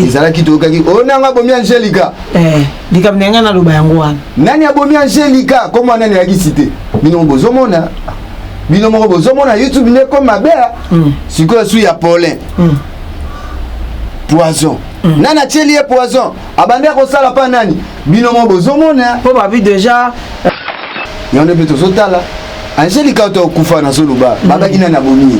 ezalaki toyokaki oyo oh, nanga abomi angelika eh, likambo na ngai naloba yango wana nani abomi angelika ko mwana nani ayaki site bino bozomona bino moko bozomona youtube nde ko mabe hmm. sikoyo su ya polin hmm. poison hmm. nani atyeli ye poison abandi akosala mpa nani bino moko bozomona mpo babi deja yango nde mpe tozotala angelika oto okufa nazoloba babaki nani abomi ye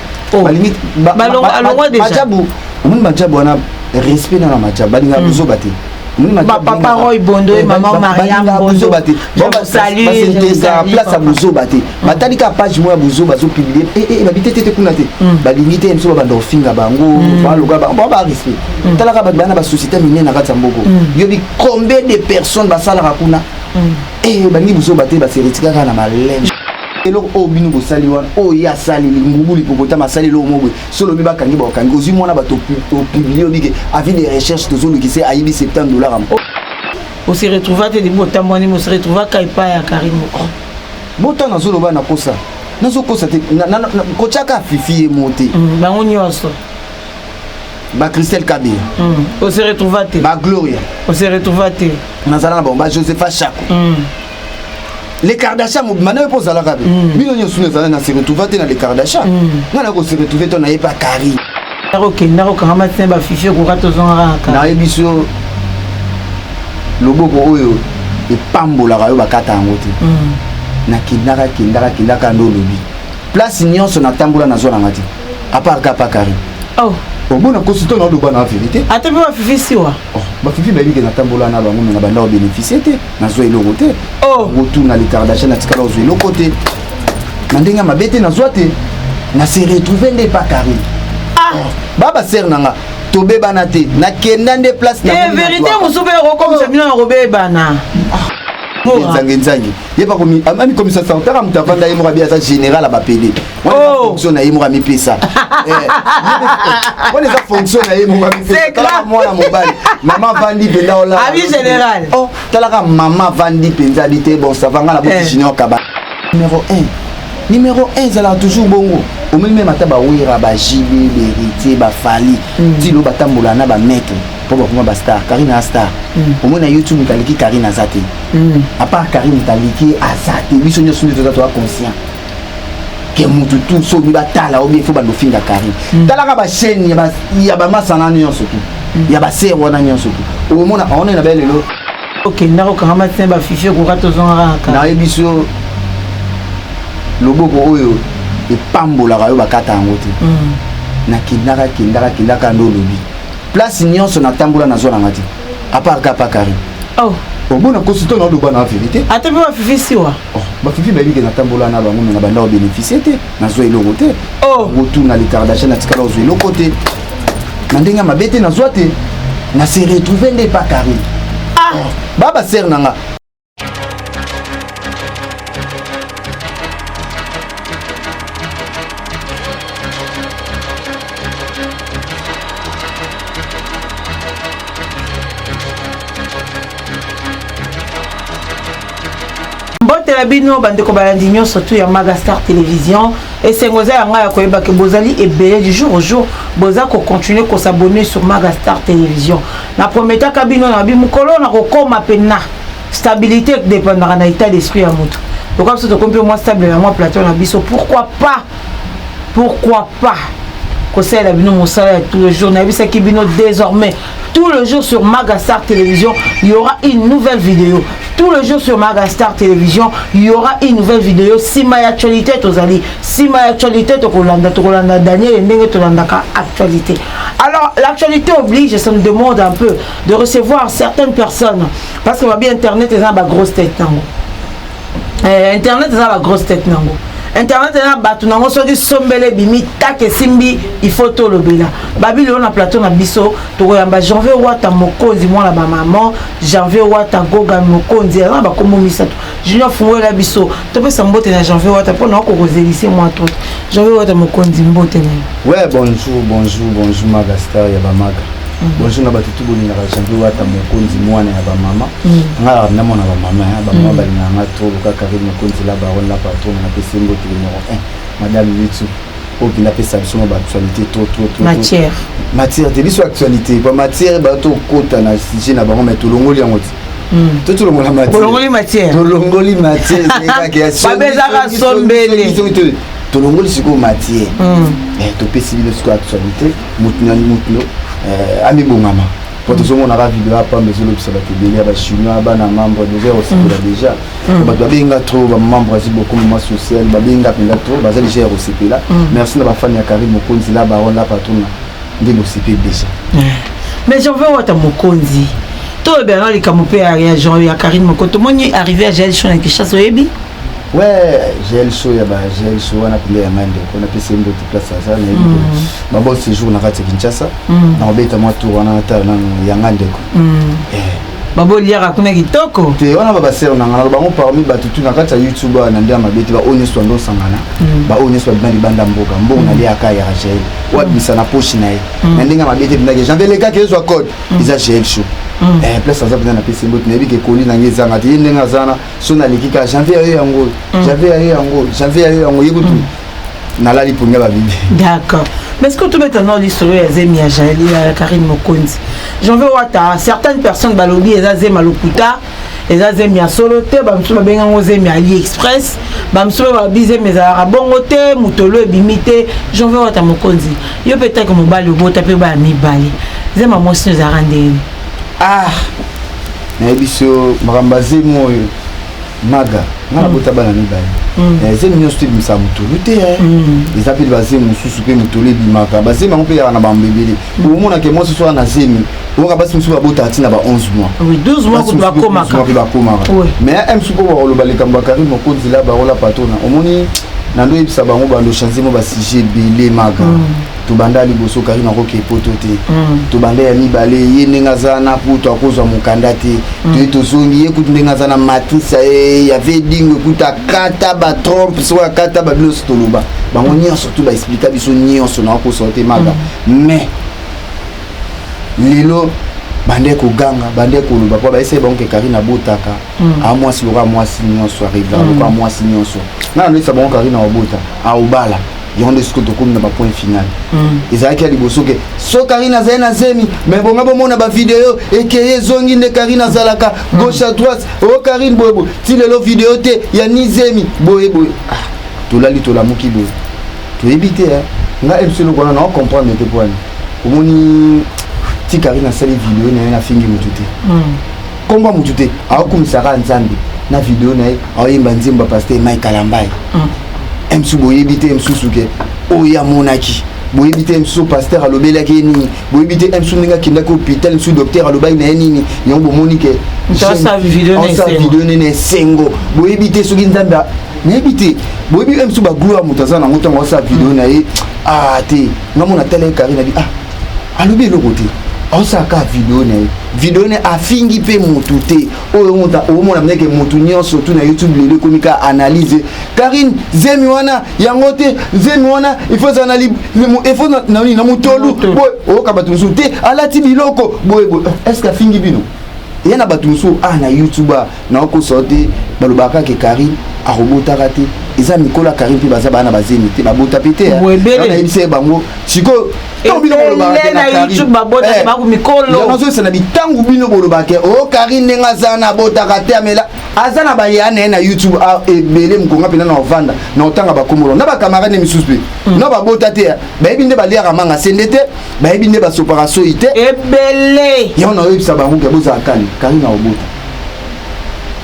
oh. balingi balongwa deja majabu omoni majabu wana respect na na majabu balinga hmm. buzoba te bapapa roy bondo ye mama mariambozoba te basenteresaka place ya bozoba te batali kaka page moko ya bozoba azopublie eh, eh, babi te tete kuna te hmm. balingi te biso babanda kofinga bango hmm. baloga bango ba respect hmm. talaka bato baya na basociété minene na kati ya mboko yobi combien de personnes basalaka kuna eh, balingi bozoba te baseretikaka na maleme eloko oyo bino bosali wana oyo ye asali ngubu lipopotama asali eloko moko boye so olobi bakangi baokangi ozwi mwana bato opiblie obike avis de recherche tozolukise ayibi 70 dollar yango ose retrouva te libu otambwani ose retrouva ka epai ya kari moko botana azoloba na kosa nazokosa te kotyaka fifi ye mo te mm, bango nyonso ba Christelle Kabé mm. on se retrouva te ba Gloria on se retrouva te nazala na bango ba Josepha Chako mm. le kardasha mobima nayo mpo ozalaka be mm. bino nyonso no ezala na se retrouva te na le kardasha mm. ngai nako se retrouve to naye pa kari nakokenda kokangama tina bafifi ekoka tozongaka kaka nayebi so loboko oyo epambolaka yo bakata yango te mm. nakendaka kendaka kendaka nde olobi place nyonso natambola nazwa nanga te apart ka pa kari oh. omona oh, kosi to naoloba na verité ata mpe bafifi siwa oh, bafifi bayebi ke natambola na bango me na bandako beneficie te nazwa eloko te oh. otuna litardachan natikala ozwa eloko te na ndenge ya mabe te nazwa te na se retrouve nde epa carine ah. oh. baba sere na nga tobebana te nakenda nde place eh, verité mosusu mpe ekokomisa bino na kobebana nzange nzange ye amikomisa sartara moto avanda ye moko abi aza général ya bapede fonction na ye moko amipesa wana eza fonction na ye moko amipesa mwana mobali mama vandi mpenza olabi général oh, talaka mama vandi mpenza abi te bon savanga na boti eh. junior kaba numéro 1 numéro 1 ezalaka toujours bongo omeli meme ata bawera bajibe beritier bafali hmm. tilo batambola na bamaitre mpo bakoma bastar karine a star hmm. omoi na youtube moto aleki karine aza te hmm. apart karine moto aleki aza te biso nyonso nde toza toa conscient ke mutu tu soki batala obi efo bando finga carine mm. talaka bachaine ya bamasana nyonso tu mm. ya basere wana nyonso tu omona aona na bale lelo okenda kokanga matin bafifi okoka tozongaka kaka nayebi so loboko oyo epambolaka yo bakata yango te mm. nakendaka kendaka kendaka nde olobi place nyonso natambola nazwa nanga te à part kapa carine oh omona kosi to naloba na verité ata mpe bafifi siwa oh, bafifi bayebi ke natambola na bango me na banda kobénéficie te nazwa eloko te oh. otuna likardasha natikala ozwa eloko te na ndenge ya mabe te nazwa te na se retrouve nde pa carine ah. oh, ba basere na nga na bino bandeko balandi nyonso tu ya magastar télévision esengo eza ya ngai ya koyeba ke bozali ebele du jour au jour boza kocontinue kosabonne sur magastar télévision Na prometaka bino na bi mukolo na kokoma pena stabilité dépendaka na état d'esprit ya moto. Lokola biso tokomi mpe mwa stable na mwa plateau na biso, pourquoi pas, pourquoi pas kosalela bino mosala ya tout le jour. Nayebisaki bino désormais tout le jour sur Magastar Télévision, il y aura une nouvelle vidéo. Tout le jour sur Magastar Télévision, il y aura une nouvelle vidéo. Sima ya actualité tozali, sima ya actualité tokolanda, tokolanda Daniel ndenge tolandaka actualité. Alors, l'actualité oblige, ça me demande un peu de recevoir certaines personnes. Parce que ma bien Internet est dans ma grosse tête. Euh, Internet est dans ma grosse tête. Nango. internet eza na bato nango soki sombele ebimi take esimbi ifo tolobela babili oyo na plateau na biso tokoyamba janvier wata mokonzi mwana bamama janvier wata gogan mokonzi aza na bakombo misato junior fungolela biso topesa mbote na janvier wata mpo na okokozelise mwa to janvier wata mokonzi mbote na ye ouais bonjour bonjour bonjour maga star ya bamaga mm. bonjour na bato tu bolingaka janvier wata mokonzi mwana ya bamama mm. nga namona bamama bamama mm. balingaka nga tolo kaka re mokonzi la baron la patron napesi mbote numero 1 madame youtube oyo mpenza apesa biso mwa baactualité trop trop trop matière matière te biso actualité ba matière bato tokota na sujet na bango mai tolongoli yango te hmm. to tolongola matièreolongoli matière tolongoli matière babezaka sombele tolongoli sikoyo matière hmm. eh, topesi bino sikoyo actualité motu na motu eh, amibongama mpo hmm. tozomonaka video apamba ezolobisa bato ebele ya bachinois bana membre deja osakola deja Mm. bato babenga trop bamama brasi beaucoup mama social babenga mpenza trop baza deja ya kosepela mm. merci na bafani ya carine mokonzi la baron la patrona nde bosepeli deja eh. mais jean veux wata mokonzi toyebela na likambo mpe ya jean ya carine moko tomoni arrivé ya jael sho na kinshasa oyebi we jael sho ya ba jael sho wana mpenza ya ngai ndeko napesi ye mbote place aza nayebi mm. babon séjour na kati ya kinshasa nakobeta mwa tour wana natala nano ya ngai ndeko eh. babo liaka kuna kitoko te wana babasere na ngana bango parmi bato tu na kati ya youtube wana nde ya mabe te baoyo nyonso bando osangana mm. baoyo nyonso babima libanda mboka mbongo mm. naliaka ya rachel oyo abimisa na poshi na ye mm. na ndenge ya mabe te bindaki janvier lekaki ezwa code eza gel show eh, place aza mpenza napesi mbote nayebi ke koli na ngai ezanga te ye ndenge aza na so naleki kaka janvier ya yo yango janvier ya yo yango janvier ya yo yango ye kutu nalali poni ya babibi d'accord mais est-ce que tobeta nao lisolo ya zemi ya jaeli ya karine mokonzi j'en veux wata certaines personnes balobi eza zema lokuta eza zemi ya solo te bamosusu babenga yango zemi ya ali express bamosusu mpe babi zemi ezalaka bongo te motolo ebimi te j'en veux wata mokonzi yo mpe take mobali obota mpe baya mibale zema mwasi ezalaka ndenge ah nayebi so makambo ya zemi oyo maga nga nabota mm. bana mibale mm. eh, zemi nyonso te ebimisa motolu te eh. mm. eza mpe bazemi mosusu mpe motolu ebimaka bazemi yango mpe yaka na bambo ebele omonake mwasi soki na zemi oyoka basi mosusu babotaka ntina ba 11 moisbasi bakomaka mais ya msu mpo bakoloba likambo ya karime mokonzi la barola patrona omoni nando oyebisa bango bando change mo basujet ebele maka tobanda liboso kari nakoke poto te mm. tobanda ya mibale ye ndenge aza na poto akozwa mokanda te mm. toye tozongi ye kutu ndenge aza na matrice ya ye ya vedingo ekuta akata batrompe soko akata babilonso toloba bango nyonso tu baexplika biso nyonso nakokosola te maka mm. mais lelo bande koganga bande koloba mpo bayesai bango ke karine abotaka a mwasi lokola mwasi nyonso arivea lokola mwasi nyonso nana loyesa bango karine aobota aobala yango nde sikoyo tokomi na bapoint final mm. ezalaki ya liboso ke so karine azali na zemi me bonga bomona bavideo ekeye ezongi nde karine azalaka mm. gauche à droite o oh, karine boyeboye ti lelo video te ya ni zemi boyeboye ah, tolali tolamuki boye toyebi te eh. nga ebisi eloko wana nao comprendre te mpo wana omoni ti karine asali video na ye nafingi motu te mm. nkombo ya motu te aokumisa kaka nzambe na video na ye aoyemba nzembo ya paster mai kalambai msu mm. boyebi te msusu ke oyo amonaki boyebi te msu paster alobelaki ye nini boyebi te msu ndenge akendaki hôpital msu docteur alobaki na ye nini yango bomoni ke osa video nene esengo boyebi te soki nzambe nayebi te boyebi msu bagloire moto aza nango ntango asala video na ye ah te ngamona tala ye kari na bi ah alobi eloko te aosala kaka video na ye video na ye afingi mpe motu te oyo omona mneke motu nyonso tu na youtube lelo ekomi kaka analyse karine zemi wana yango te zemi wana ifozala na efo na motolu boye oyoka bato mosusu te alati biloko boye boye est ce que afingi bino ya na bato mosusu a ah, na youtube ah, naokosa yo te balobaka ke karine akobotaka te eza mikolo ya karine mpe baza bana bazemi te babota mpe te nayebisa ye bango sikoyo nazoyesa na bitango bino bolobaka ke o karine ndenge aza na abotaka te amela aza na baya na ye na youtube ah, ebele mokonga mpenza na ovanda na otanga bakomolo na bakamarade misusu mpe mm. na babota te bayebi nde baliaka manga sende te bayebi nde basopaka soyi te ebele yango naoyebisa bango ke bozala kani karina obota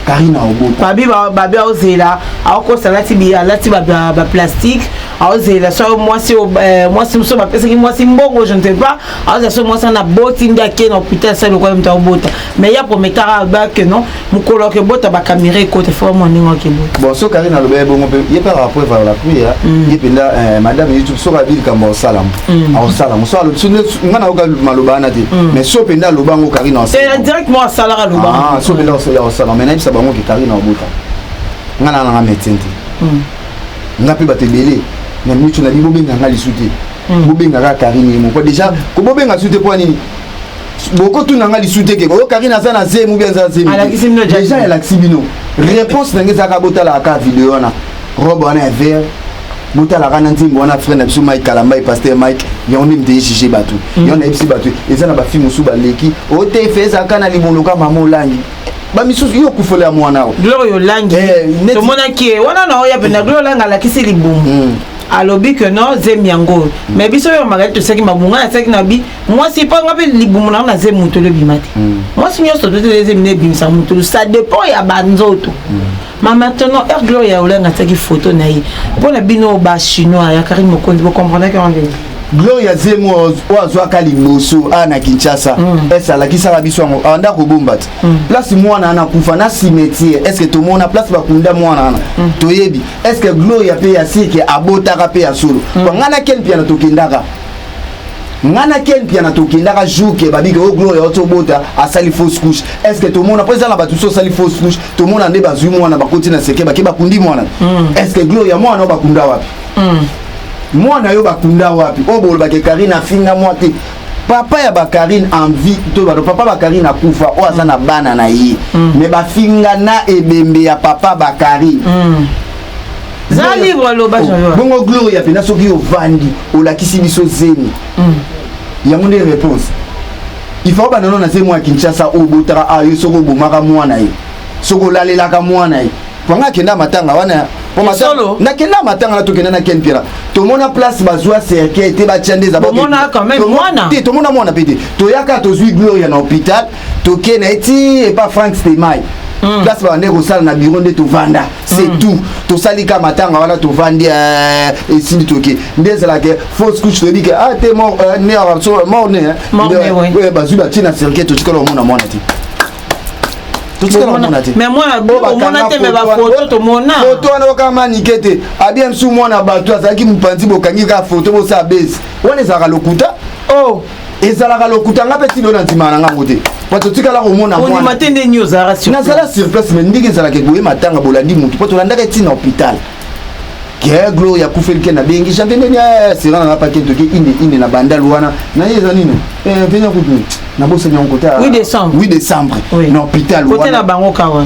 karina obota babi babi aozela aokosa alati alati baplastique aozela so mwasi eh, mwasi mosusu bapesaki mwasi mbongo je ne sais pas aozela so mwasi wana aboti nde ake na hôpital asali lokola moto aobota mais ya prometaka abake non mokolo ya kobota bakamera ekota fo bamwa ndenge wakebota bon soki kari nalobeli bongo mpe ye mpe akaka preuve ya lapri ya mm. ye mpenza eh, madame youtube soki abi likambo aosalamo mm. aosalamo so alobi so nga nayoka maloba wana te mm. mais so mpenza aloba yango kari na eh, directement asalaka loba ah, so mpenza osali aosalamo mais nayebisa bango ke kari na obota nga na nanga médecin te nga mpe bato ebele na mitu na bibobenga nga lisu te bobengaka karine ye moko déjà kobobenga su te mpo nini bokotuna nga lisusu te keko oyo karine aza na zemi obi aza zemi deja elakisi bino réponse na ngai ezalaka botalaka kaka video wana robe wana ya vert botalaka na nzembo wana frère na biso mike kalambai paster mike yango nde mite juge bato mm. yango nayebisi bato eza na bafilme mosusu baleki otefe ezalaka na liboloka mama olangi bamisusu yo okufela ya mwana o gloria olangi eh, tomonaki ye wana na oya mpena gloria olangi alakisi libumu mm. alobi que non zemi yango oyo mm. mais biso oyo magali tosaki mabunga nasaki na bi mwasi mpo nga mpe libumu nanga na zemi motolo ebima te mm. mwasi nyonso tote ezemi na ebimisa motolo ça dépend ya banzoto mm. ma maintenant heure gloria olenga atiaki photo na ye mpo na bino bachinois ya karine mokonzi bocomprenaki yango ndenge gloria zemi oyo azwaka liboso a na kinshasa mm. ese alakisaka biso yango abanda kobomba te place mwana ana kufa na cimetiere estce tomona place bakunda mwana ana toyebi estce gloria mpe ya sike abotaka mpe ya solo bangana ken mpiana tokendaka nga na ken mpiana tokendaka jour ke babike o oh, gloria oti obota asali fausse couche est ce que tomona mpo eza na bato so osali fausse couche tomona nde bazwi mwana bakoti na seke bake bakundi mwana mm. est ce que gloria mwana o bakunda wapi mm. mwana yo bakunda wapi oyo oh, bolobake karine afinga mwa te papa ya bakarine envie to bato papa bakarine akufa oyo aza na bana na ye mm. me bafinga na ebembe ya papa bakarine za libre aloba oh, jean bongo gloria pena soki ovandi olakisi biso zemi mm. yango nde réponse il faut banano na zemi ya kinshasa obotaka a ah, yo soki obomaka mwana ye soki olalelaka mwana ye panga akenda matanga wana solo nakenda matanga na tokenda na ken piera tomona place bazwa cercueil te batya nde ezatomona mwana mpe te toyaka tozwi gloria na hôpital tokei na ye ti epa frank stemai hmm. place babandeki kosala na biro nde tovanda c'est mm. tout tosali ka matanga wana tovandi euh, esili toke nde ezalaka fausse couche toyebi ke ah te mort euh, ne euh, mort ne bazwi batie na cercueil totikala omona mwana te totikala omona te foto wana okaka manike te abie msu mwana bato azalaki mopanzi bokangi kaka foto bosala base wana ezalaka lokuta oh. ezalaka lokuta nga mpe tino na ndimaka na ngango te po totikala komona ondima te nde nini ozalaka sur nazala sur place me ndenge ezalaka ekoye matanga bolandi motu mpo tolandaka eti na hôpital keglo ya kufelike na bengi janvier ndeni eh, sera nanga pake toke inde inde na bandal wana na ye eza nini eh, venia kutu nabosani yango kote 8 décembre 8 décembre na hôpital kote na bango kawa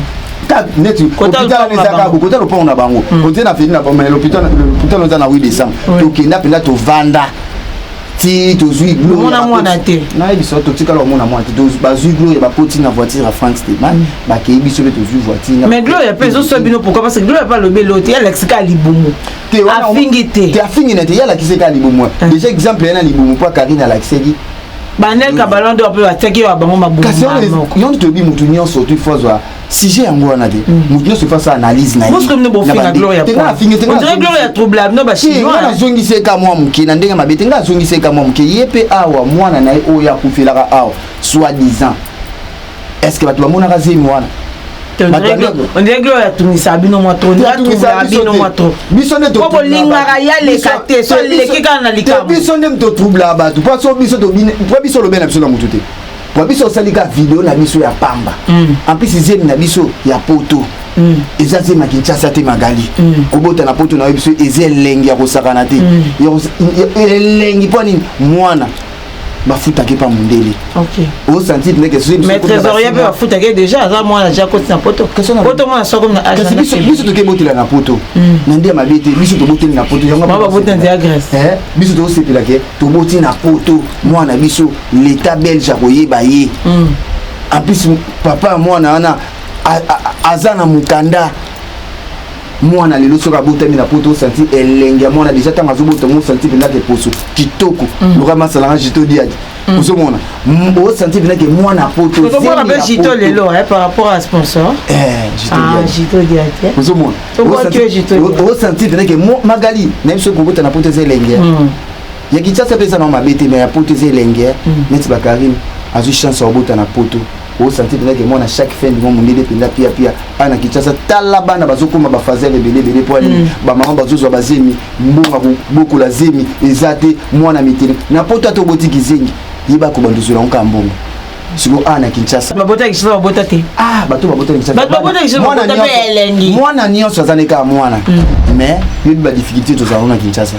neti hôpital wana ezaka kokota lopango na bango kote na feli na bango mais l'hôpital oza na 8 décembre tokenda mpenza tovanda ti tozwi gloomona mwana te nayebi biso totikala omona mwana te bazwi gloria bakoti na voiture ya france te mm. bakei biso mpe tozwi voiture mais gloria mpe ezoswa bino pourkoi parce que gloria mpe alobi elo te yalakisi kaka libumu afingi te te afingi na te yalakisi kaka libumu ah. déjà exemple yana libumu mpo karine alakisaki banel kabalando mpe batiaki yo ya bango mabumu kasi yango toyebi motu nyonso tu fozwa sujet yango wana te moto nyonso efa sa analyse na nazongiseka mwa moke na ndenge mabe te ngai azongiseka mwa moke ye mpe awa mwana na ye oyo akufelaka awa soit disant est ce que bato bamonaka zemi wana atungisa bino mwa biso ndeolingaka yaleka te soaleki kaka na likambo biso nde mototroublaka bato mpo biso lobe na biso na motu te Kwa biso osali ka video na biso ya pamba. Mm. En plus zemi na biso ya poto. Mm. eza zema kinshasa te magali mm. kobota na poto na yo biso eza elengi ya kosakana te mm. elengi mpo nini mwana bafutaki mpa mondele osanti ndeke trésorier mpe bafutaki déjà aza mwana ja koti na poto poto mwana soko na kasi biso toke botela na poto hmm. na nde ya mabe te biso toboteli na poto yango baboti na nzela grèce eh, biso tokosepelake toboti na poto mwana biso l'etat belge akoyeba ye mm. en plus papa ya mwana wana aza na mokanda mwana lelo soki abotami na poto osanti elengi ya mwana deja ntango azobotama osanti mpenza ke poso kitoko mm. loka masalanga jito diadi mm. ozomona osanti mpenza ke mwana potoozomona mpe jito lelo eh, par rapport à sponsor eh, jito diadi ah, eh. ozomona osanti mpenza ke magali nayebi soki kobota na poto eza elengi ya kinshasa mpe eza nao mabe te mais ya poto eza elenge eh. mm. neti bakarine azwi chance ya kobota na poto osanti mpenza ke mwana chaque fin du mois mondele mpenza pia pia awa na kinshasa tala bana bazokoma bafazele ebele ebele mpo ani mm. bamama bazozwa bazemi mbonga bokola zemi eza te mwana mitele na poto ata oboti kizengi yeba kobanda ozwela yango kaka mbongo siko awa na kinshasa babota kinshasa babota te ah bato babota kinshasa mwana nyonso aza ne kaka mwana mais mm. yebi badifficulté tozalaka na kinshasa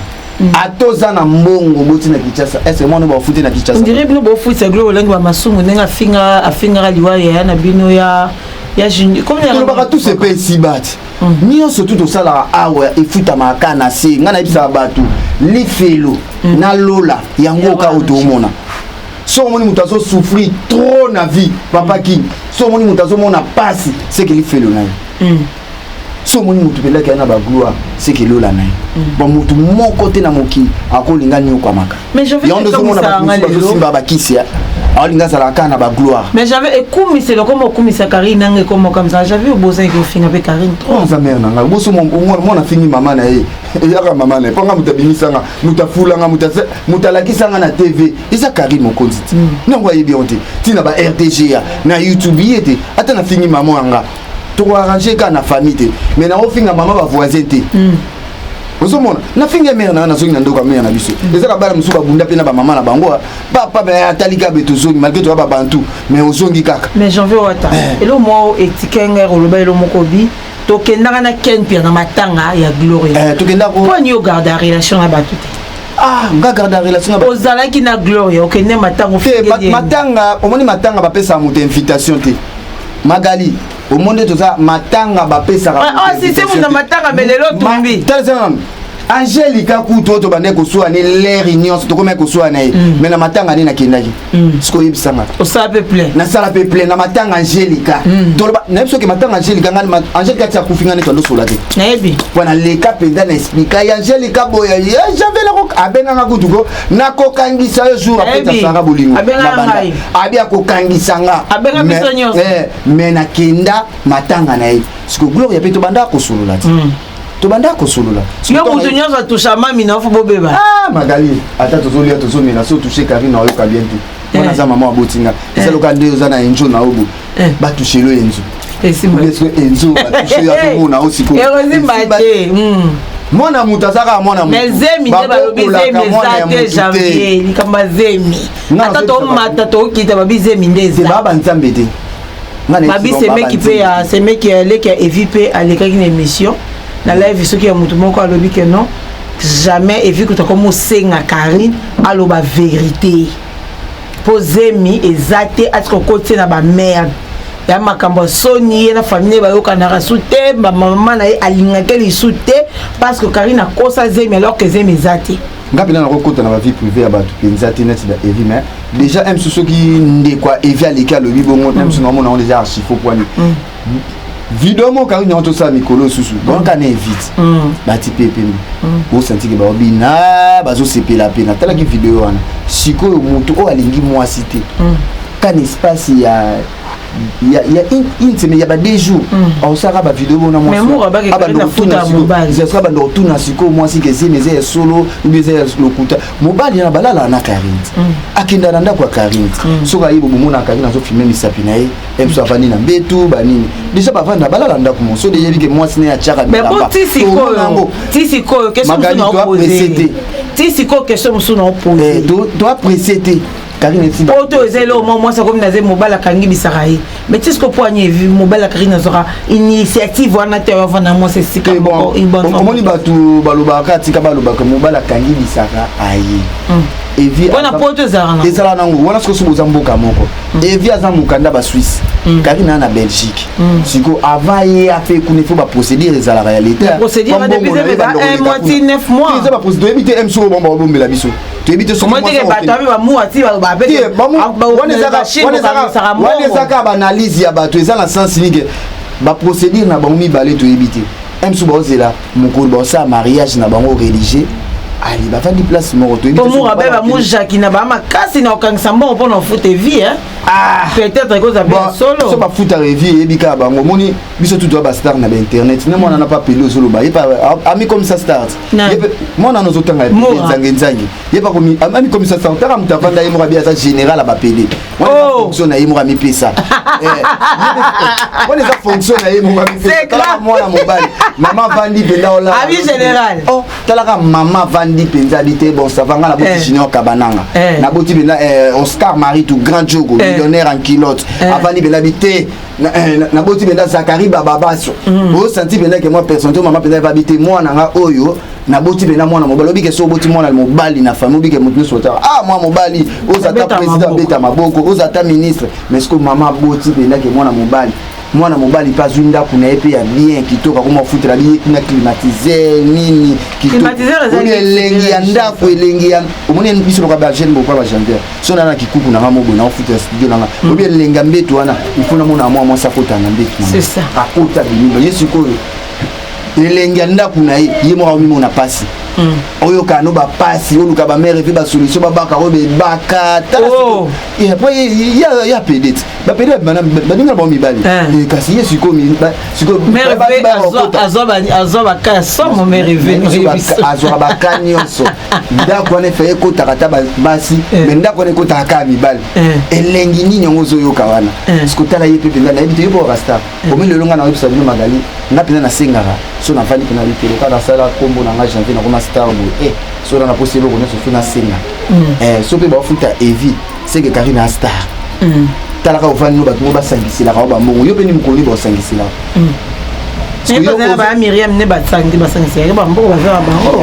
ata oza na mbongo oboti na kinshasa ese mwana bafuti na kinshasa ondire bino bofutisa glo olangi ba masumu ndenge afinga afingaka liwa yaya na bino ya ya juni kolobaka tu sepe esibati mm. nyonso tu tosalaka awa efutamaka ka na se ngai nayebisaka bato lifelo mm. na lola yango oka oyo toomona soki omoni moto azosouffrir trop na vie papa mm. king soki omoni moto azomona mpasi seke lifelo na ye so omoni motu mpenza kaya na bagloire seke lola na ye mm. bamotu moko te na mokili akolinga niokwamaka yango ndozomona bato mosusu bazosimba bakisi aolinga azalaka kaka na bagloire mais j'avais ekumisela okoma okumisa karine nanga ekoma okamisa j'avais obozaki ofinga mpe karine troza mare na ngai boso mwana afingi mama na ye eyaka mama na ye mpo nga moto abimisanga moto afulanga moto alakisanga na tv eza karine mokonzi ti mm. nango ayebi yango te ntina ba rdga na youtube ye te ata nafingi mama yanga toko arranger kaka na famille te mais na ofinga mama ba voisin te mm. ozomona nafinga mere na nga nazongi na ndoko ya mere na biso mm. ezaka bana mosusu babunda mpe na bamama na bango papa me atali kaka be tozongi malgre toya babantu mais ozongi kaka mais janvier wata eh. elo mwa etikenge oloba elo moko bi tokendaka na ken pia na matanga ya gloria eh, tokendaka mpo ani ogarda relation na bato te ah nga garde en relation na ozalaki na gloria okende matanga te matanga omoni matanga bapesaka moto invitation te magali omoni nde toza matanga bapesaka sisemu na matanga me lelo tumbi angelika kutu oyo tobandaki kosuwa ne leri nyonso tokomaki kosuwa na ye mm. me na matanga nde nakendaki mm. siko oyebisanga osala mpe plein nasala mpe plein na matanga angelika mm. toloba nayebi soki matanga angelika ngani angelika ti akufi ngani twandosola te nayebi mpo naleka mpenza na esplika ya angelika boye ye javelako abenganga kutu ko nakokangisa yo jour apesa sara bolingo na banda abi akokangisa nga eh, me nakenda matanga na ye siko gloria mpe tobanda kosolola ti hmm. tobanda kosolola yo moto nyonso atusha mami na fo bobeba ah, magali ata tozolia tozomela so touche karine ayoka bien te wana aza mama aboti nga eza loka nde oza na enjo na obo batushelo enzo esimbaso enzo batushe ya komona o sikoyo ekozimba te mwana moto aza kaka mwana mozemi nde balobi zemi eza te janvier likambo ya zemi ata tomata tokita babi zemi nde ezabaa banzambe te babi semeki mpe ya semeki ya leki ya evi mpe alekaki na émission na live soki ya moto moko alobi ke non jamais evi kutu akomi osenga carine aloba verité mpo zemi eza te atika okoti ye na bamerde ya makambo ya soni ye na famille bayokanaka su te bamama na ye alingaki lisu te parce que karine akosa zemi alors que zemi eza te nga mpena nakokota na bavie privé ya bato mpenza te neti na evi mais déjà msu soki ndeko ya evi aleki alobi bongo msu mm. naomona yango deja archifo pwani mm. video moko yango nyonso tosala mikolo osusu bonka na evite mm. bati mpe pembe mm. osantike baobina bazosepela mpe natalaki video wana sikoyo motu oyo alingi mwasi te mm. kan espace ya ya ya une semaine ya ba deux jours aosalaka ba video bona mwasi abanda kotuna sikoyo mwasi kezemi eza ya solo mbi eza ya lokuta mobali yana balalaka na karine akenda na ndako ya karine soki ayebo bomona karine azofilme misapi na ye ye biso avandi na mbetu banini deja bavanda balala ndako mo so deja yebi ke mwasi naye atiaka bilambayango magali toaprecie te ti sikoyo question mosusu na opose toaprecie te po to eza eloko mwa mwasi akomi naza mobali akangi bisaka ye mais ti sikoyo mpo ani mobali akaki nazwaka initiative wana te avanda mwasi esika omoni bato balobaka atika balobaka mobali akangi bisaka aye hmm. wana po to ezalaka ezalaka nango wana sokosi boza mboka moko evi aza mokanda ba suisse mm. karine aa na belgique mm. siko avant ye afe kuna ifo baprocédure ezalaka ya letaeza baprocédure oyebi te mso bomba babombela biso toyebi te wana ezaka baanalyse ya bato eza na sens nike baprocédure na bango mibale toyebi te msu baozela mokolo baosala mariage na bango religieux ali bafandi place moko toyebimurabe bamujaki na baa makasi na kokangisa mbongo mpo na ofute vie ah. peut-être ekozala mpe solo so bafutaka vie eyebi kaka bango omoni biso tutu ya bastar na bainternet ne mwana na pa pele ozoloba ye amikomisa start mwana na ozotanga nzange nzange ye amikomisa start taka moto afanda ye moko abi aza général ya bapele fonction na ye moko amipesa wana eza fonction na ye moko amipesa mwana mobali mama vandi mpenza olabi général oh, talaka mama vandi mpenza abi te bon savanga na boti eh. junior kabananga eh. na boti mpenza eh, oscar marie tout grand jogo millionnaire en kilote avandi mpenza abi te na boti mpenza zakari bababaso osanti mpenza ke mwa personne to mama mpenza evabi te mwana nga oyo naboti mpena mwana mobali obike so oboti mwana mobali na famille obike moto nyonso otaka ah mwana mobali oza ata président abeta maboko oza ata ministre mais sikoyo mama aboti mpena ke mwana mobali mwana mobali mpe azwi ndako na ye mpe ya bien kitoko akoma ofutela biye na climatiseur nini kitokoli elengi ya ndako elengi ya omoni biso loka bagene bokola bagendaire so nana kikuku nanga moboye na ofutela studio nanga mm. obi elengi ya mbeto wana ifo namona mwa mwasi akota na mbeto akota biniba ye sikoyo elengi ya ndako na ye ye moko amimona mpasi mm. oyokana no bapasi oluka bamere mpe basolution babaka oyo bebaka oh. ya pede ti bapede baninga bango mibali eh. Eh, kasi ye sikoyoazwa baka ya somo mereveazwaka baka nyonso ndako wana efaye ekotaka ata basi eh. me ndako wana ekotaka kaka mibali elengi nini yango ozoyoka wana sikotala ye mpe mpenza nayebi te yo mpo bakastar bomi lelo ngai nakoyebisa bino magali nga mpenza nasengaka so nafandi mpe na likolo kaka nasala nkombo na ngai janvier nakoma star boye e eh, so na naposi eloko nyonso fi nasenga mm. eh, so mpe baofuta evi seke karine ya star mm. talaka ofandi no bato ngo basangiselaka o bambongo yo mpe ni mokolo nini baosangiselaka mm. bazalaka baya miriam ne basangi basangiselaka bambongo bazala bango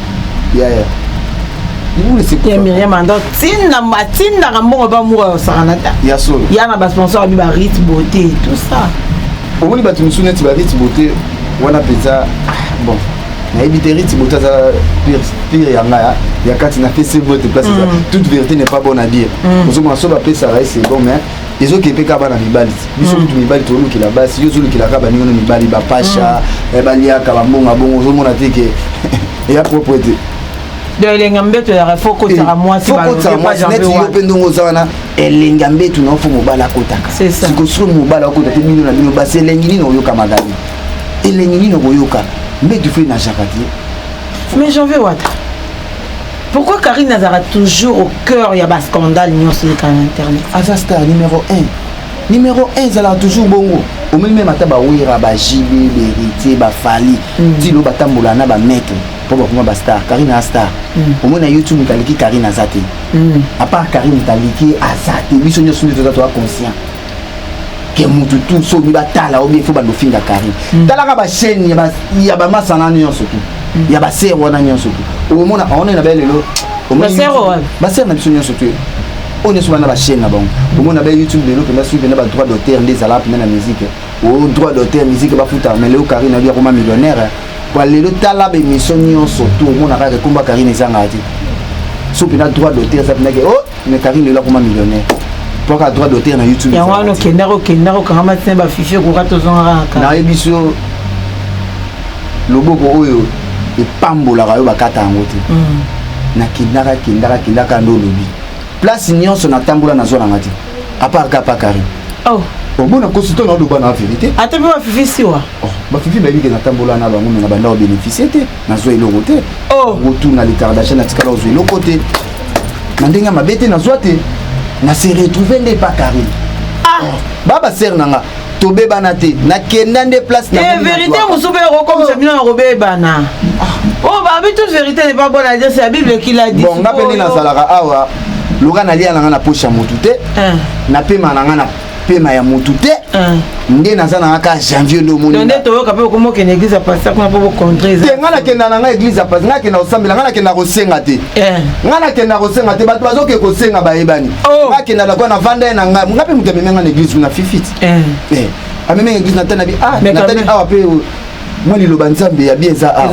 yaya ya miriam ando atindaka mbongo mpe amour ayosakana ta ya solo ya na basponsor abi barite beauté tout ça omoni bato mosusu neti barite beauté wana mpenza bon nayebi te rite beauté aza pire ya ngai ya kati na pesi bote place eza toute vérité n'est pas bonne à dire ozomona so bapesaka ye c'est bon mais ezokepe kaka bana mibali biso kutu mibali tolukela basi yo ozolukela kaka baninga no mibali bapasha eh, baliaka bambonga bongo ozomona te ke eya propre te donc elengi ya mbeto ezalaka fo kotisaka mwasi kotisaka mwasi neti yo mpe ndongo oza wana elengi ya mbeto na yo fo mobali akotaka sikoyo sikoyo mobali akota te bino na bino basi elengi nini oyoka magali elengi nini okoyoka mbeto fo enajaka te mais janvier wata Pourquoi Karine azara toujours au cœur ya ba scandale nyonso eleka na internet aza star numéro 1 numéro 1 ezalaka toujours bongo omeli meme ata bawera bajibe beritier bafali mm. tilo batambola na bamaitre mpo bakoma bastar karine a star mm. omoi na youtube moto aleki karine aza te mm. apart karine moto aleki aza te biso nyonso nde toza toa conscient ke mutu tu soki batala obi fo bando finga carine mm. talaka bachaine ya bamasana nyonso tu mm. ya basere wana nyonso tu omona aona na baye lelo basere na biso nyonso tu oyo nyonso bana bachaine na bango omona baye youtube lelo mpenza soki mpenza badroit d'auteur nde ezalaka mpenza na musique o oh, droit d'auteur musique bafutaka mais lelo carine abi akoma millionnaire po lelo tala bemission nyonso tu omonaka ke komba carine ezangaka te so mpenza droit d'auteur eza mpenza ke o oh, mais Karine lelo akoma millionnaire pwaka droit d'auteur na youtube yango wana okendaka okendaka okangama tina bafifi ekoka tozongaka kaka nayebi so loboko oyo epambolaka yo bakata yango te mm. nakendaka kendaka kendaka nde olobi place nyonso natambola nazwa nanga te apart kapa kari oh. omona kosi to naoloba na verité ata mpe bafifi siwa oh, bafifi bayebi ke natambola na bango me na bandako bénéficie te nazwa eloko te oh. retour na retardation natikala ozwa eloko te na ndenge ya mabe te nazwa te na se retrouve nde epa carine ah. oh. baba sere na nga tobebana te nakenda nde place eh, verité mosusu mpe ekokomisa bino na kobebana ah. oyo oh, babi toute verité ne pas bonne à dire c'est la bible qui l'a dit bon nga mpe nde nazalaka awa loka nalia na nga na poche ya motu te eh. napema na nga na pema ya mutu te ah. nde naza nanga kaka janvier nde omoni nde toyoka mpe okoma okende église ya pasteur kuna mpo bocontre te ngai nakenda na ngai église ya pasteur ngai nakenda kosambela ngai nakenda kosenga te eh. ngai nakenda kosenga te bato bazoke kosenga bayebani oh. ngai akenda lakwa na vanda ye na ngai ngai mpe moto ameme ngai na église kuna fifit eh. eh. ameme église natani na bi ah natani awa mpe mwa liloba nzambe ya bien eza awa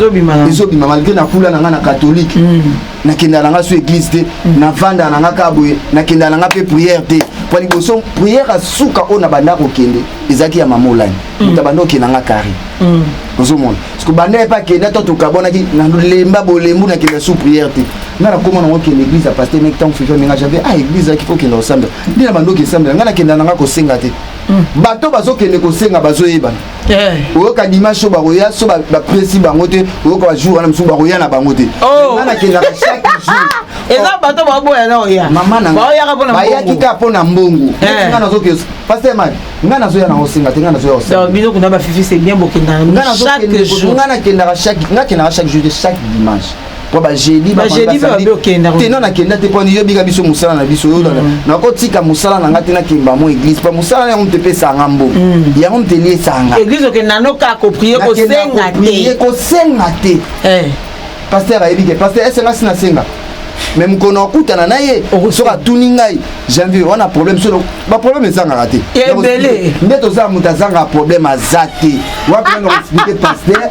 ezobima malgré na kula na ngai na katholike mm. nakendaka na nga so église te navandaka na nga kaka boye nakendaka na nga mpe prière te mpo liboso prière ya suka oyo na banda kokende ezalaki ya mama olani mm. moto abanda okenda nga kari mm. ozomona parceke banda ye mpe akenda to tokabwanaki nalemba bolembu nakenda sous prière te nga nakoma nango okenda église ya paster meki ntango fifa menga jabe a ah, église ayaki kokenda kosambela nde na banda okesambela nga nakenda na nga kosenga te mm. bato bazokende kosenga bazoyebana Eh. oyoka dimanche so bakoya so bapresi bango te oyoka bajour wana mosusu bakoya na bango te oh. nga nakendaka chaque jour eza bato baboya na oya mama nabayaki kaka mpo na mbongo eh. nga nazoke paster mari nga nazoya na osenga te nga nazoya osengabiso kuna bafifi c'est bien bokendaka nga nakendaka chaque nga kendaka chaque jour te chaque dimanche mpo bajedi tena nakenda te mpo yobika biso mosala na biso oyolana mm. nakotika mosala na ngai te nakemba mo église mpo mosala na yango moto epe esanga mbo mm. yango moto eli esanga kosenga te eh. paster ayebi ke paster esenasi nasenga me mokolo na okutana na ye soki atuni ngai janvier wana problème solo baproblème ezangaka te nde tozala moto azangaka problème aza te wapi nanga explike paster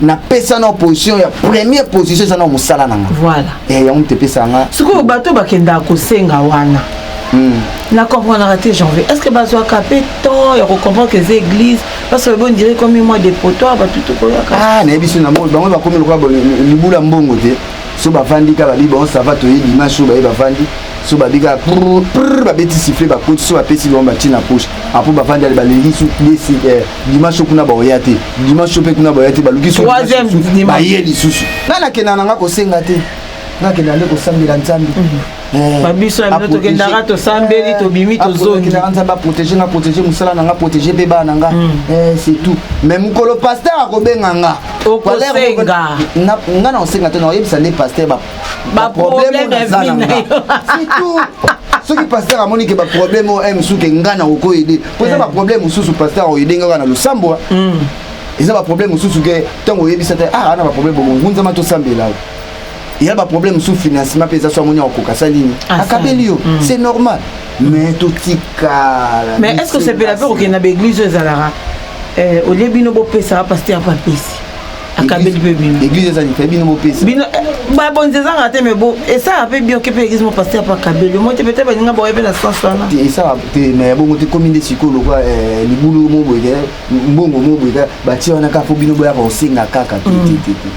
na pesa na position ya première position eza na mosala na nga voilà eh yango te pesa nga sikoyo bato bakendaka kosenga wana hmm. na comprendra te janvier est ce que bazwaka mpe temps ya kocomprendre que eza église parce que bo ndire komi mwa dépotoire bato tokoyaka ah nayebi so na moi bango bakomi lokola libula mbongo te so bavandi ka babi bango sava toye dimanche oyo baye bavandi so babi ka babeti siffle bakoti so bapesi bango batie na poche apo bavandi ale balelisi dimanche kuna baoya te dimanche mpe kuna baoya te baluki baye lisusu ngai nakenda na ngai kosenga te nakenda nde kosambela nzambe mhm. eh, babiso ya bino tokendaka tosambeli eh, tobimi tozongilaka nzambe aprotege nga protege mosala na nga protege mpe bana nga mhm. eh, c'est tout mais mokolo paster akobenga nga okosenga nga na kosenga te nakoyebisa nde paster ba problème na vie na yo surtout soki pasteur amoni ke baproblème oyo eh, mosusu ke ngai na kokoyede mpo eza baproblème eh. mosusu pasteur oyede ngai kaka na losambo hmm. eza baproblème mosusu ke ntango oyebisa te ah ana baproblème bongo ngunzama tosambela yo ya baproblème mosusu financement mpe eza so amoni akokoka sa nini ah, akabeli yo hmm. c'est normal mais totikala mais est ce que osepela mpe kokenda baeglise oyo ezalaka eh, olie bino bopesaka pasteur mpe apesi akabeli mpe bino église ezali mpe bino bopesa bino eh, babonzi ezanga te mais bo esala mpe bioke mpe église mopaster mpe akabeli omoi te peut-être baninga baoye mpe na sens wana esala te mais ya bongo te komi nde sikoyo lokola eh, libulu mo boye eh, mbongo mo boye batie wana kaka mpo bino boyaka kosenga kaka te mm. te te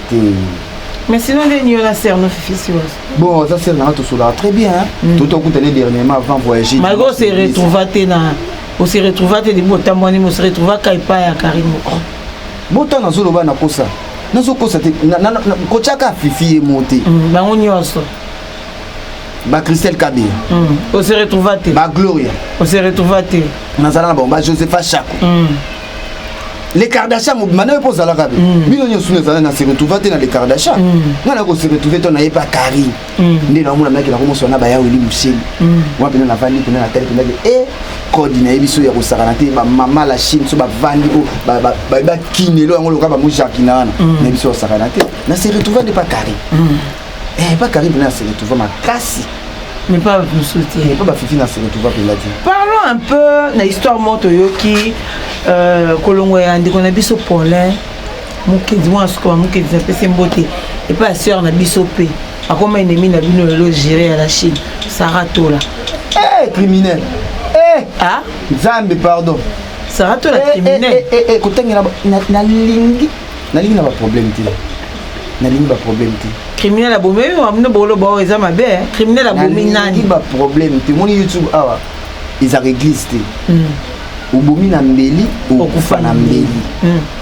te mais sinon nde nio na ser no fifi siwa bon aza ser nanga tosolaka très bien mm. totokuta ne dernièrement avant voyager malgré ose retrouva te na ose retrouva te libo otambwani mo ose retrouva ka epai ya kari moko bota nazo loba na kosa nazo kosa te ko chaka fifi ye mote mm, bango nyoso ba Christelle Kabé mm, on se retrouva te ba Gloria on se retrouva te nazala na bon ba Josepha Chako mm. les Kardashian mobima na yo mpo ozalaka be bino nyonso nazala na se retrouva te na les Kardashian nga na ko se retrouve to na ye pa Karine mm. nde naomona maki nakomosana na bayaweli moseli mm. wana mpena navandi mpena natali mpena ke e kodi na ye biso ya kosakana te bamama la chine so bavandi o bakinelo yango loka bango jardina wana mm. na biso yosakana te na se retrouva nde pa carré eh, pa carré mpena na se retrouva makasi mais pas mosusu te eh, pa bafifi na se retrouva mpena te parlons un peu na histoire moko toyoki euh, kolongo ya ndeko na biso paulin mokenzi mwana suka mokenzi napesi ye mbote epai ya sœur na biso mpe akoma enemi na bino lelo gere ya la chine sara tola eh, criminel eh, ah? nzambe pardon sara tola eh, criminel eh, eh, eh, kotangela nalingi nalingi na baproblème te nalingi baproblème te criminel abomi oyo amino boloba oyo eza mabe eh. criminel abomi nani baproblème te omoni youtube awa ezaka église te hmm. obomi na mbeli okufa na mbeli hmm.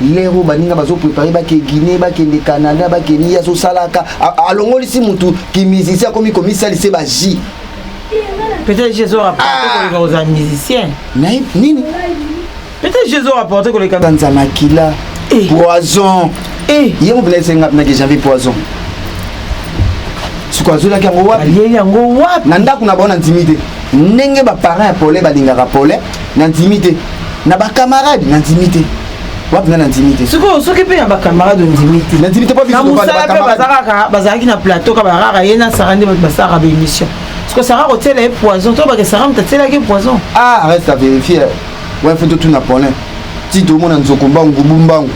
lero baninga bazoprepare bake guine bakende canada bakende ye azosalaka alongolisi mutu kimusicien akomi komisalise baji peut-être jesu rapporte ah! koleka kozala musicien nini peut-être jesu rapporte koleka kanza makila eh. poison eh. ye mobila esenga pinaki janvi poison siko azolaki yango wapi na ndako na bango na ntimi te ndenge baparent ya pole balingaka pole na ndimi te na bacamarade na ndimi te wapi nga na ndimi te sikoyo soki mpe na bacamarade ondimi te na ndimi te na mosala mpe bazalaka bazalaki na plateau ka barara ye na sara nde basalaka baémission siko sara kotiela ye poison to bake sara moto atielaki ye poison ah reste à vérifier wana fo totuna polin ti tomona nzoko mbangu gubu mbangu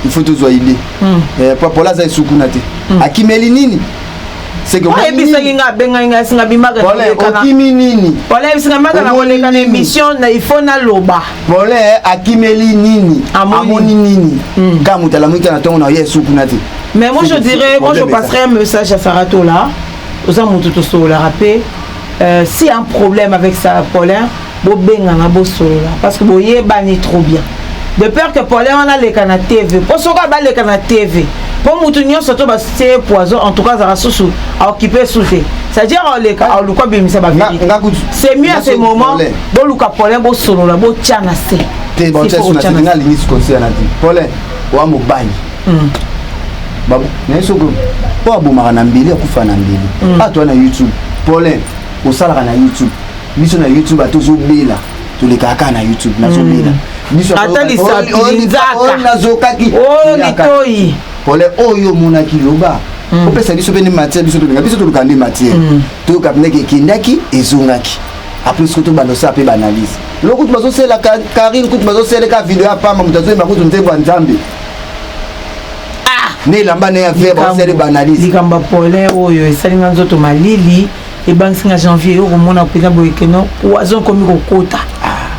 il faut tozwa idée hmm. eh, papola aza esukuna te hmm. akimeli nini oyebisaki nga abengaki nga singa bimaka okimi nini pole singa maka na koleka na émission na ifo naloba pole akimeli nini amoni nini hmm. kaka moto alamuki na ntongo na ye esuku na te mais moi je dirais moi je passerai un message à saratola oza moto tosololaka mpe Euh, si un problème avec ça, Paulin, bobengana bosolola parce que boyebani trop bien de peur que Paulin wana aleka na TV mpo soki abaleka na TV mpo motu nyonso to batie poison en tout cas azalaka susu aokipe su te c'est-à-dire oleka oluka bimisa bavérité c'est mieux à ce moment boluka Paulin bosolola botya na se te botya na se nga alingi sikotia na te Paulin wa mobali mm. naye soki mpo abomaka na mbeli akufa na mbeli mm. atoa na youtube polin osalaka na youtube biso na youtube atozobela tolekaka kaka na youtube nazobela mm. biso ata lisapinzaka nazokaki o oh, litoi pole oyo omonaki loba mm. opesa biso mpe nde matière biso tolinga biso toluka nde matière mm. toyoka mpendeke ekendaki ezongaki apres kutu bandosala mpe baanalyse loko kutu bazosela karine kutu bazoseleka video ya pamba moto azoyemba kutu nzembo ya nzambe ah! na elamba na ya vere basali baanalyse likambo ya polin oyo esali nga nzoto malili ebangisi nga janvier yo komona mpenza boye keno poison ekomi kokota ah.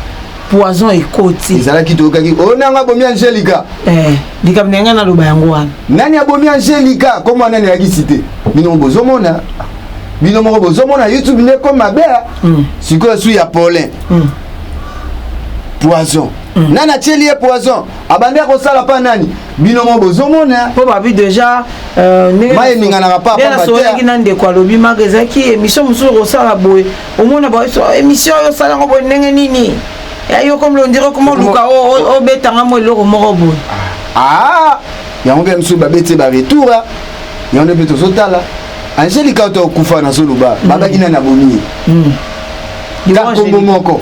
poison ekoti ezalaki toyokaki oyo oh, nanga abomi angelica eh, likambo na yanga naloba yango wana nani abomi angelica komwa nani ayaki site bino bozomona bino moko bozomona youtube nde ekoma mabe hmm. sikoyo su ya polin hmm. poison hmm. nani atyeli ye poison abandi akosala pa nani bino mo bozomona mpo babi deja euh, maye eninganaka papasolaki na ndeko alobi maka ezalaki émission mosusu okosala boye omona émission oyo osala yango boye ndenge nini ya yo komi londire koma oluka obetanga mo eloko moko boye ah, yango mpe mosusu babeti baretour ah. yango nde mpe tozotala angelika oto okufa nazoloba mm. babaki nani abomi ye ntango mm. moko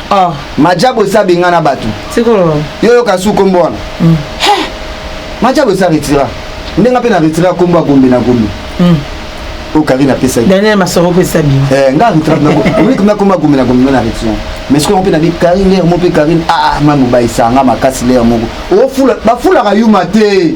Ah. Majabo esa bengana batu. Sikolo. Yo yo kasu kombo wana. Mm. Hey. Majabo esa retira. Ndenga pe na retira kombo ya Gombe na Gombe. Mm. oyo karine apesaki daniel masoro opesa bino eh, nga arbitraeomikoma koma gombe na gombe na retien mais soki yango mpe nabi karine lere mo mpe karine aa ah, ah, ma mobaisa nga makasi lere moko bafulaka yuma te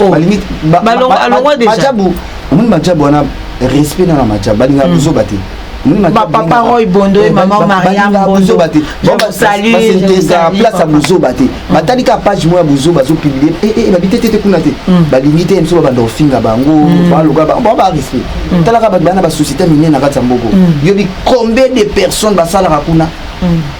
oh. balingi majabu omoni majabu wana respect na na majabu balingaka hmm. buzoba te papa roy bondo ye eh, mama mariam bondo basalutesa place ya buzoba te hmm. batali kaka page moko ya buzoba azopublie eh, eh, babi te te te kuna te hmm. balingi te biso babanda kofinga bango baloka bango ba respect talaka bato bana basociété minene na kati ya mboko yobi combien de personnes basalaka kuna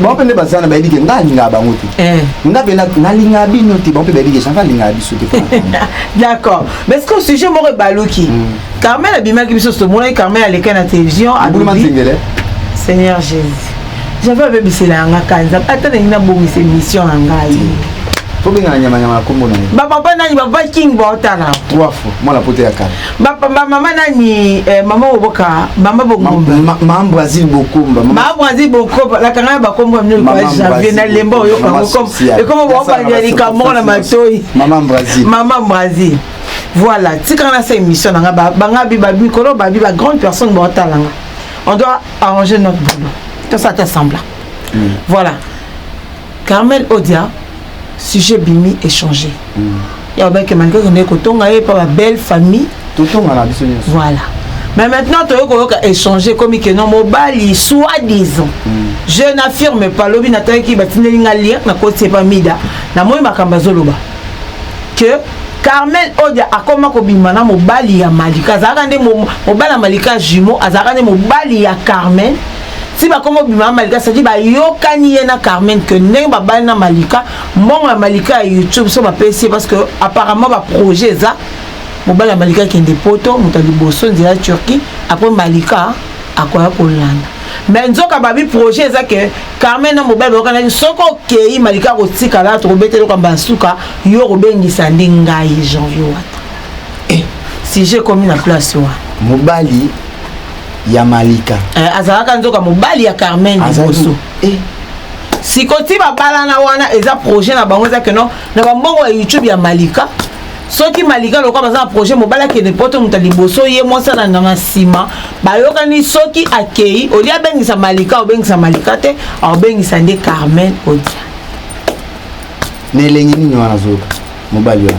bango mpe nde baza na bayebi ke ngai alingaka bango te eh. ngai mpe nalingaka bino te bango mpe bayebi ke change alingaka biso te d'accord mais ce que sujet moko ebaluki hmm. carmel abimaki biso somonaki carmel aleka na télévision abulumazengele seigneur jésus jave abebisela yanga kanza ata nalingi nabongisa émission na ngai tobengana nyamanyama na kombo na ye bapapa nani bapapa king baotala trois fois mwana poto ya kala Ba, ba mama nani eh, mama oboka mama bongomba ma, ma, ma Brazil bokomba mama, ma Brazil bokomba la kanga ba kombo mne kwa janvier na lemba oyo ka bokomba e kombo ba ba ya likambo na matoyi mama Brazil mama Brazil voilà tika na sa émission na nga ba nga bi ba mikolo ba bi ba grande personne ba talanga on doit arranger notre boulot tout ça t'assemble mm. voilà Carmel Odia sujet bimi échanger. Mm. Ya ba ke manike ko ndeko tonga ye pa ba belle famille. Totonga na biso nyonso. Voilà. Mais maintenant toyo ko yoka échanger comme que non mobali soit disant. Mm. Je n'affirme pas lobi na tanki ba tineli nga lien na ko tsepa mida. Na moyi makamba zoloba. Que carmel odia akoma kobima na mobali ya malika azalaka nde mobali ya malika jumeau azalaka nde mobali ya carmel ti bakoma obima na malika cetadi bayokani ye na carmen que ndenge babali na malika mbongo ya malika ya youtube so bapesi ye parce que apparemment baprojet eza mobali ya malika akende poto moto ya liboso nzela ya turquie apres malika akoya kolanda mais nzoka babi projet eza ke carmen na mobali bayokanaki soki okei malika akotikala tokobeta eloko yamba ya suka yo okobengisa nde ngai janvier wata eh. sujet ekomi na place wana mobali ya malika eh, azalaka nzoka mobali ya carmen liboso eh. sikoti babalana wana eza projet na bango eza keno na bambongo ya youtube ya malika soki malika lokola baza na projet mobali akende poto moto liboso ye mwasi alanda na nsima bayokani soki akei olie abengisa malika obengisa malika te aobengisa nde carmen odia na elengi nini wana zoka mobali wana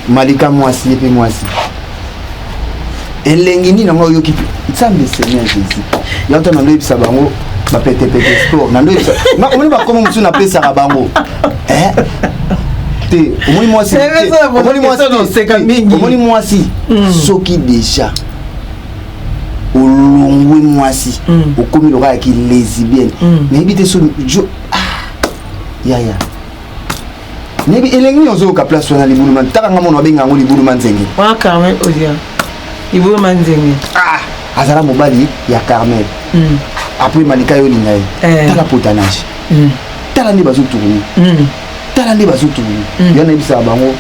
malika mwasi ye mpe mwasi elengi nini yango oyoki nzambe seigneur jésus yango ntango naloyebisa bango bapetepete sport naloyebisa omoni bakomo mosusu napesaka bango eh? te omoni mwasi omoni mwasi hmm. soki deja olongwe mwasi hmm. okomi loka ya kilesibienne hmm. nayebi te so yaya Nayebi elengi nini ozoyoka place wana libulu man taka nga mona babenga yango libulu manzenge wana carmel odia libulu manzenge ah azala mobali ya carmel mm. apres malika yo olinga ye eh. tala potanage mm. tala nde bazotourne mm. tala nde bazotourne mm. yo nayebisaka bango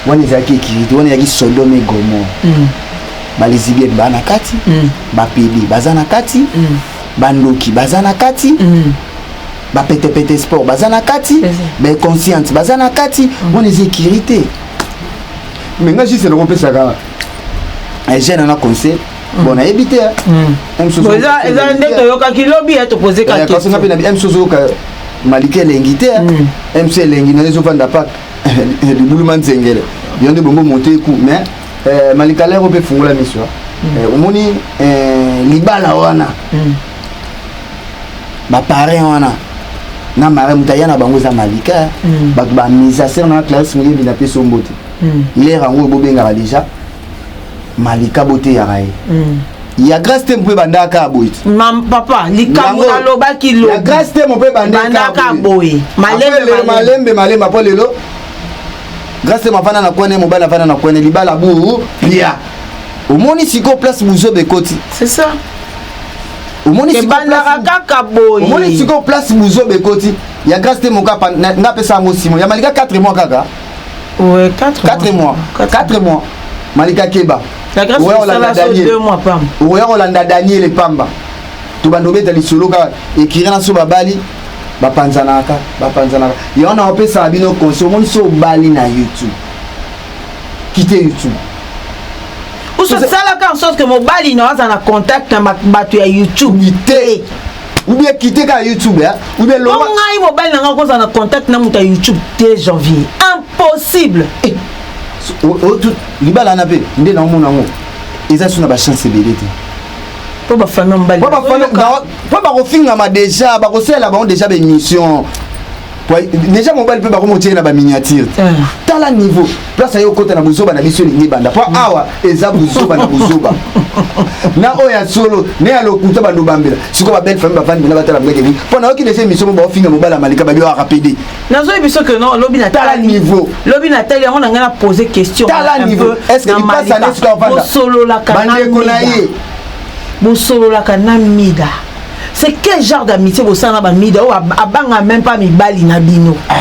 wana ezalaki ekirite wana ezalaki sodome gomor mm. balesibienne baa na kati mm. bapede baza na kati mm. bandoki baza na kati mm. ba pete pete sport baza na kati ba consciente baza na kati mm. wana eza ekiri te me nga juste eloko opesaka eh, jeune na conseil mm. bon nayebi te eza nde toyokaki lobi ya topose kakasi nga mpe na mc ozoyoka maliki elengi te mc elengi nayo ezovanda paka libulu ma nzengele yo nde bongo monte eku mais eh, malikalero mpe fungola miso eh, omoni libala wana mm. ba parrain wana na mara moto aya na bango eza malika mm. bato bamisasere na clarisse moyebi na pesi ombo te mm. lere yango oyo bobengaka deja malika boteyaka ye mm. ya grace te mpo ebandaka boye papa likambo nalobaki loya grace te mpo ebandaka boye malembe malembe mpo lelo grace te mavanda na kwane mobali avanda na kwane libala bu pia omoni sikoyo place buzoba ekoti c'est ça ebandaka kaka boye omoni sikoyo place buzoba ekoti ya grace te mokapa nga apesa yango simo ya malika 4 mois kaka 4 mois 4 mois malika keba oya kolanda daniel epamba tobanda obeta lisolo kaka ekiri na so babali bapanzanaka bapanzanaka yango na opesaka bino conseil omoni so obali na youtube quitter YouTube. osalaka en sorte que mobali na aza na contact na bato ya youtube te oubien kite kaka youtube oubien loba ngai mobali na ngai okozala na contact na moto ya youtube te janvier impossible eh, libala na mpe nde naomona yango eza so na bachance ebele te mpo bafamille mobali mpo bakofingama deja bakosalela bango deja baémission deja mobali mpe bakomotie na baminiature te eh. tala niveau place aye okota na buzoba na biso elingi ebanda mpo awa eza buzoba na buzoba na oyo ya solo ne ya lokuta bandobambela sikoyo babelle famille bavandi mpena batala mbeke nini mpo nayoki deja emisio mo baofinga mobali ya malika babi oaka pede nazoyi biso ke no lobi na tala niveau lobi na tali yango na ngai na pose question tala niveau est ce que lipasi ane sikoyo avanda bandeko na ye bosololaka na mida c'est quel genre d'amitié bosala na bamida oyo abanga même pas mibali na bino ah.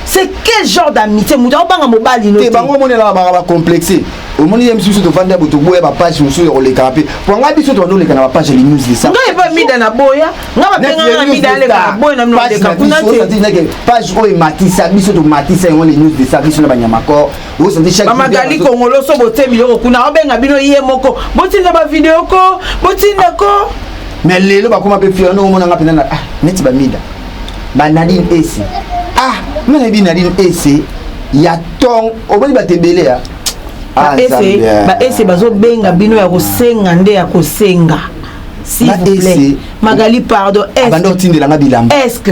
c'est quel genre d'amitié moto aobanga mobali no te bango omonelaka baka bacomplexe omoni ye misusu tofandi ya boto boya bapage mosusu ya kolekaka mpe po ngai biso tobandi oleka na bapage ya linews lesa ngai epa mida na boya ngai bapenganga na mida aleka na boya na noleka kuna te page oyo ematisa biso tomatisa yango linews lesa biso na banyamakor bamagali kongoloso botie biloko kuna obenga bino ye moko botinda bavideo ko botinda ko mais lelo bakoma mpe fier ndongo omonanga mpenza ah, neti bamida banadine ese ah nga nayebi nadine ese ya tong omoni bato ebele ya ah, baese bazobenga bino ya kosenga nde ya kosenga s'il vous plaît magali pardon est-ce que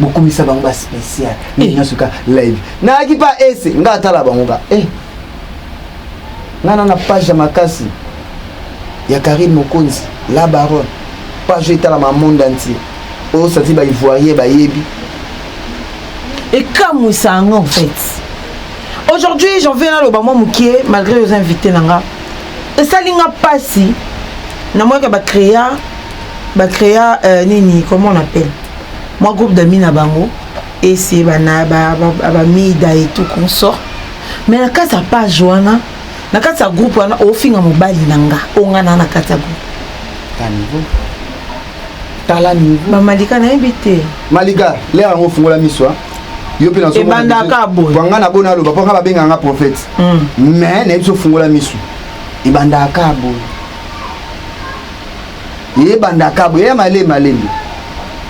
bokumisa bango ba spécial eh. nini nasuka live nayaki pa ese nga atala bango ka eh. nga na na page ya makasi ya karine mokonzi la baronne page oyo etalama monde entier oyo santi ba ivoirien bayebi ekamwisa yango en fait aujourd'hui j'en viens naloba mwa mokie malgré oza invité na nga esali nga mpasi namonaka bacréa ba crea euh, nini comment on appelle moi groupe d'amis na bango et c'est bana ba ba, ba mida et tout consort mais na kati ya page wana na kati ya groupe wana ofinga mobali na nga ongana na kati ya groupe tala niveau bamalika nayebi te malika lere yango ofungola miso yo mpe naebandaka boye banga na bona aloba mpo nga babengaka nga prophète mais hmm. nayebi so ofungola miso ebandaka boye Yeye banda kabo yeye male malembe.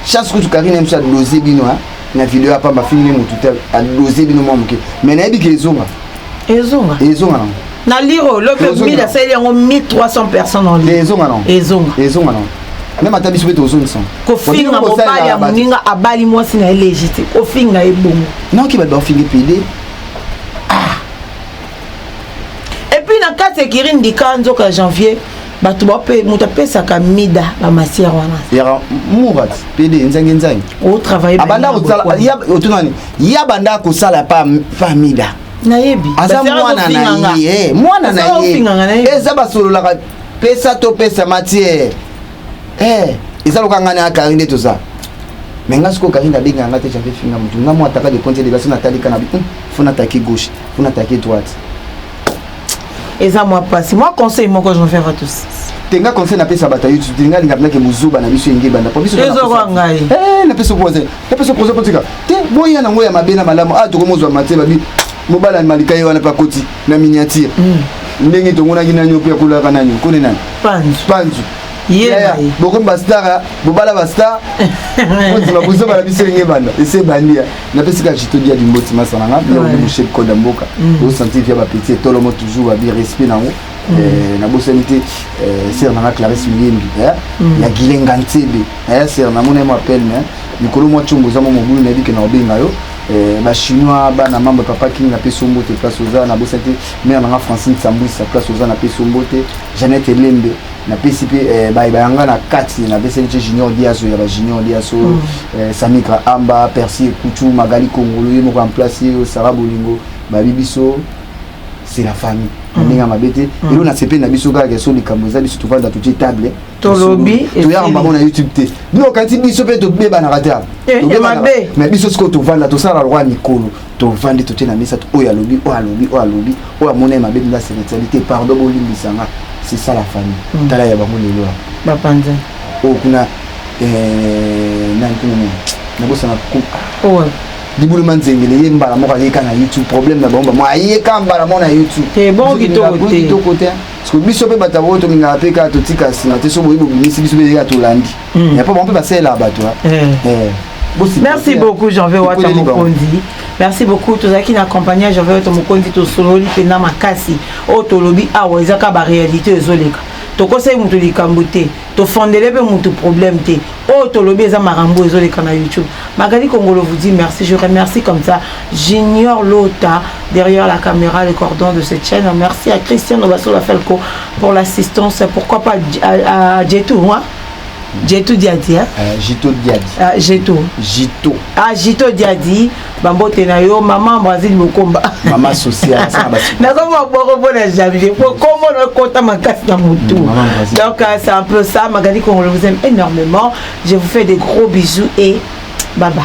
Chance kutu Karine msa doze bino hein na video ya pamba fini mutu te a doze bino mwa moke. Mais na yebi ke ezonga. Ezonga. Ezonga. Na liro lope 1000 asali yango 1300 personnes en ligne. Ezonga non. Ezonga. Ezonga non. meme ata biso mpe tozongisa kofinga mobali ya moninga abali mwasi na ye legitime kofinga ye bongo noki bato bafinga epede ah. epuis na kati ekiri ndika nzoka janvier bato bape moto apesaka mida bamasiere wana yaka murat pede nzangi nzangi otravailleotunani ya banda kosala pa mida nayebi aza mwana na ye eh, mwana na ye eza basololaka pesa topesa matiere eh, eza loka ngai na akari nde toza me nga sikoyo karine abenga yanga te jafe finga motu nga mwa ataka de compte de basi natalika na bi fo nataki gauche fo nataki droite eza mwa mpasi mwa conseil moko je faire à tous tenga conseil napesa bato ya youtube nga linga mpenza ke bozoba na biso enge ebanda po bisoezokoa ngai eh, napesa projet napesa projet kotika te boya nango ya mabe na malamu a ah, tokomozwa matie babi mobala malika ye wana mpe akoti na miniature hmm. ndenge tomonaki nani mpe akolaka nani okoni nani panzu bokomi bastar bobala bastar ozima bozoba na biso enge ebanda ese ebandi napesi kaka chitodi ya limboti masa na nga bia oli moshep code ya mboka osanti via bapeti etolomo toujours abi respect nango nabosani te ser nanga clarisse miyembi ya gilenga nsebe ser namona ye mo appel me mikolo mwa congo oza mo mobulu nayebi ke na obenga yo Eh, bachinois bana mambo ya papa king napesi ombo te place oza nabosa te mare nanga francine sambuisa place oza napesi ombo te janete lembe napesi mpe eh, baye bayanga na kati napeseli ce junior diaso ya bajunior diaso mm. eh, samika amba persi ekutu magali kongolo ye moko amplace yo sara bolingo babi biso c'est la famille na mm. ndenge ya mabe te mm. elo nasepeli na biso kaka so likambo eza biso tovanda totie table tolobi toyaka bango na youtube te bino okanisi biso mpe tobebanaka te eh, mais biso sikoyo tovanda tosala lokwa mikolo tovandi totie na mesa oyo alobi oyo alobi oyo alobi oyo amona ye mabe mila spiritualité pardon bolimbisa nga c'est ça la famille mm. tala ya bango lelo ya bapanza oyo kuna eh, nani kuna nini nabosana oyo libulu manzengele ye mbala moko ayeka na youtube problème na bango bango ayeka mbala moko na youtube te bon kitoko te parce que biso mpe bato yango tolingaka mpe kaka totika nsima te so boye bobimisi biso mpe yeka tolandi ya po bango mpe basalelaka bato merci beaucoup janve wata mokonzi merci beaucoup tozalaki na accompagne ya janve wata mokonzi tosololi mpenza makasi oyo tolobi awa eza kaka baréalité oyo ezoleka tokosaki moto likambo te tofondele mpe moto problème te oyo oh, tolobi eza makambo ezoleka na youtube magali kongolo vous dit merci je remercie comme ça junior lota derrière la caméra le cordon de cette chaîne merci à christian nobasola felco pour l'assistance pourquoi pas à, à, à jetou hein? Jetu Diadi hein? Euh, Jito Diadi. Ah, Jeto. Jito. Ah, Jito Diadi. bambote na yo mama brazil mokomba mama social nakoma boko mpona janvier po kombo nakota makasi na motu donc euh, c'est un peu ça magali congolo vous aime énormément je vous fais des gros bisous et bye bye